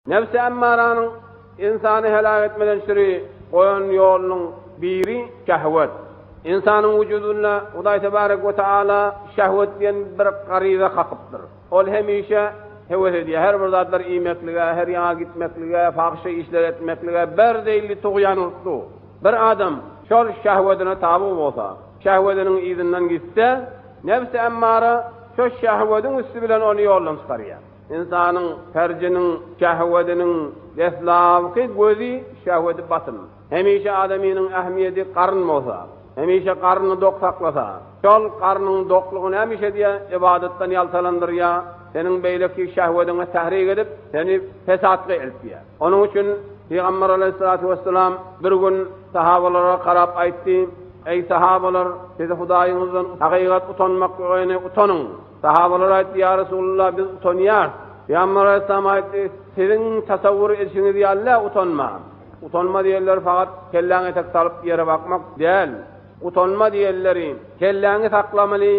Nebsi emmaranyň ynsany heläk etmeden çyry goýan ýolunyň biri şehwet. Ynsanyň wujudynda Hudaý Tebarek we Tagala şehwet diýen bir garyza kakypdyr. Ol hemişe hewes edýär, her bir zatlar iýmeklige, her ýaňa gitmeklige, pahyşa işleri etmeklige, berdeýli tugýan urtly. Bir adam şol şehwedine taby bolsa, şehwediniň yzyndan gitse, nebsi emmara şo şehwediň üsti bilen ony ýoldan çykarýar. Ynsanyň pärjiniň, şähwediniň, deslabky gözi şähwedi batyn. Hemişe adamynyň ähmiýedi garyn bolsa, hemişe garyny dok saklasa, şol garynyň doklugy nämişe diýe ybadatdan ýaltalandyrýar, seniň beýleki şähwediňe tahrik edip, seni pesatga eltýär. Onuň üçin Pygamber alaýhyssalatu wesselam bir gün sahabalara garap aýtdy, Eý sahabalar, sizi Hudaýyňyzdan hakykat utanmaklygyny utanyň! Sahabalar aýtdy, Ýa Resulallah, biz utanýarys. Pygamber aleyhissalam aýtdy, Siziň tasawwur edişiňiz ýaly-ä utanma. Utanma diýenleri fakat kelläňi etek salyp ýere bakmak däl. Utanma diýenleri, kelläňi saklamaly,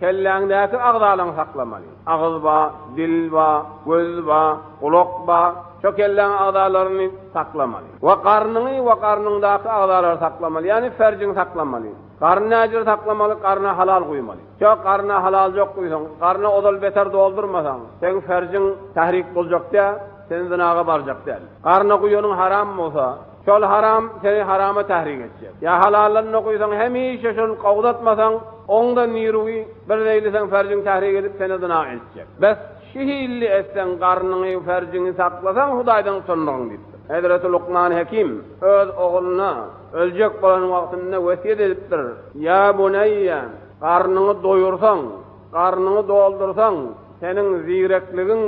kelläňdäki agzalaňy saklamaly. Agyz ba, dil ba, göz ba, gulak ba, şo kelläň agzalaryny saklamaly. We garnyňy we garnyňdaky agzalary saklamaly, ýagny ferjiňi saklamaly. Garny näjüre saklamaly, garna halal guýmaly. Ýok, garna halal ýok guýsaň, garny ozal beter doldurmasaň, seň ferjiň tahrik boljak dä, sen zynaga barjak däl. Garna guýanyň haram bolsa, şol haram seni harama tahrik etjek. Ýa halallanda guýsaň, hemişe şol gowzatmasaň, oňda niruwi, birzeýli seň ferjiň tahrik edip, seni zyna eltjek. Bes! Şu hilli etseň, garnyňy, ferjiňi saklasaň, Hudaýdan utanmagyn diýipdir. Hezreti Lukman Hekim öz ogluna öljek bolan wagtynda wesýet edipdir, Ýa buneýýe, garnyňy doýursaň, garnyňy doldursaň, seniň zigrekligiň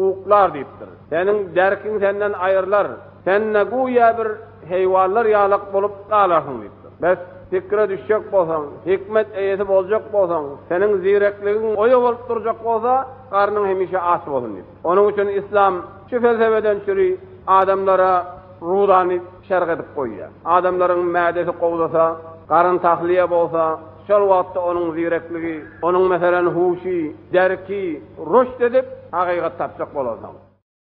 uklar diýipdir. Seniň derkiň senden aýrylar. Sen-de güýä bir heýwanlar ýalak bolup galarsyň diýipdir. Bes, pikire düşjek bolsaň, hikmet eýesi boljak bolsaň, seniň zirekligiň oýa bolup durjak bolsa, garnyň hemişe aç bolsun diýipdir. Onuň üçin yslam şu felsebeden çüri adamlara rudany şerh edip goýýar. Adamlaryň mädesi gowzasa, garyn tahliýe bolsa, şol wagtda onuň zirekligi, onuň meselem huşy, derki rüşt edip, hakykat tapjak bolarsyň.